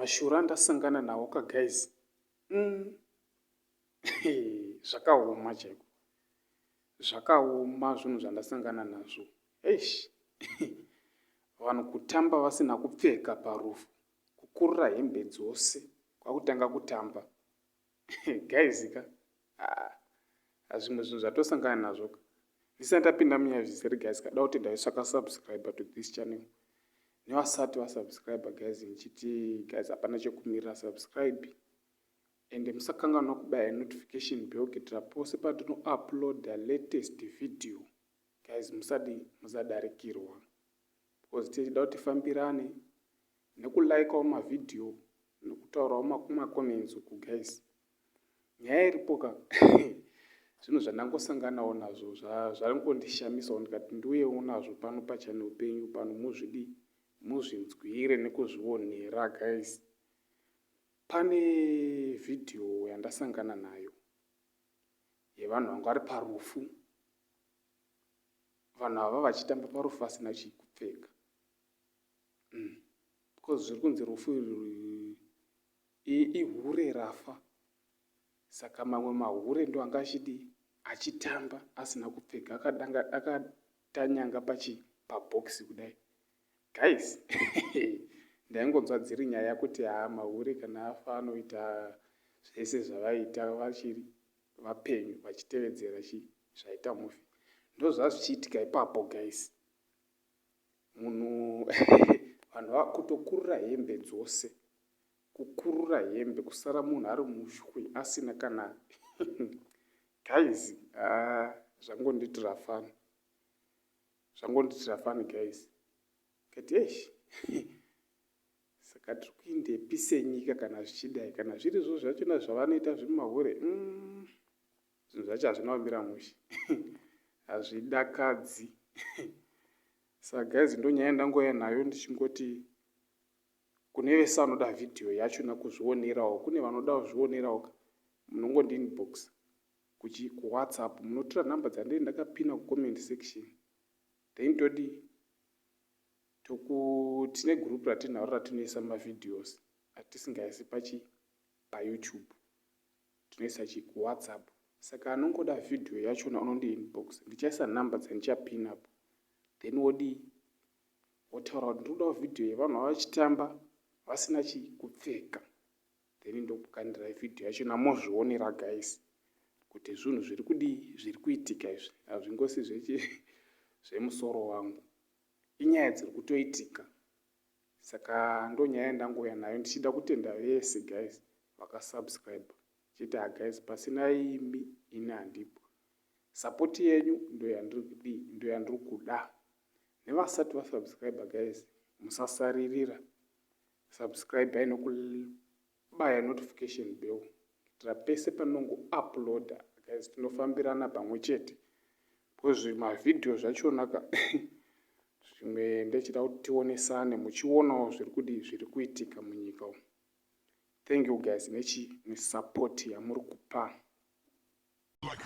mashura ndasangana nawo ka guys mm. zvakaoma chaiko zvakaoma zvinhu zvandasangana nazvo eish vanhu kutamba vasina kupfeka parufu kukurira hembe dzose kwakutanga kutamba guys ka ah, ah, zvimwe zvinhu zvatosangana nazvo ka ndisati ndapinda munyaya zvisiri guys kada kuti ndaisvaka subscriber to this channel nevasati vasubscriber guys ndichiti guys hapana chekumirira subscribe ende musakanganwa kubaya notification bell kuitira pose patinouploada latest video guys musadi musadarikirwa Because tichida kuti tifambirane nekulikawo mavideo nekutaurawo macomments uku guys nyaya iripo ka zvinhu zvandangosanganawo nazvo zvangondishamisawo ndikati ndiuye unazvo pano pachane upenyu pano muzvidi muzvinzwire nekuzvionera guys pane vhidhiyo yandasangana nayo yevanhu vanga vari parufu vanhu ava vachitamba parufu vasina chikupfeka mm. because zviri kunzi rufu ihure rafa saka mamwe mahure ndo anga achidi achitamba asina kupfeka akatanyanga pachi pabhokisi kudai Guys ndaingonzwa dziri nyaya kuti haa mahure kana afa anoita zvese zvavaita vachiri vapenyu vachitevedzera chii zvaita mufi ndozvazvichiitika ipapo guys munhu vanhu vakutokurura hembe dzose kukurura hembe kusara munhu ari mushwi asina kana guys haa ah, zvangonditirafana Zvangondiitira fani guys kati eish saka tiri kuindepi senyika kana zvichidai kana zviri zvo zvachona zvavanoita zviri mahure mm. zvinhu zvacho hazvina kumira mushe hazvidakadzi saka guys ndonyaya ndangouya nayo ndichingoti kune vese vanoda vhidhiyo yacho nakuzvionerawo kune vanoda kuzvionerawo ka munongondinbox kuchi ku whatsapp munotora number dzandee ndakapina ku comment section then todi toku tine group ratinaro ratinoisa ma videos atisingaisi pachi pa youtube tinoisa chi ku whatsapp saka anongoda video yachona unondi inbox ndichaisa number dzandichapin up then wodii wotaura kuti ndinodawo video yevanhu vavachitamba vasina chi kupfeka then ndokukandirai video yachona mozvionera guys kuti zvinhu zviri kudii zviri kuitika izvi hazvingosi zvechi zvemusoro wangu inyaya dziri kutoitika saka ndonyaya yandangouya nayo ndichida kutenda vese guys vakasubscribe chete haguys ah, pasina imi ini handipo sapoti yenyu ndoyandiri kudii ndoyandiri kuda nevasati vasubscribe guys musasaririra Subscriber inokubaya notification bell kuitira pese panongo uploader guys tinofambirana pamwe chete because mavhidhiyo zvachona ka zvimwe ndechida kuti tionesane muchionawo zviri kudii zviri kuitika munyika umu thank you guys nechi nesupport yamuri kupa like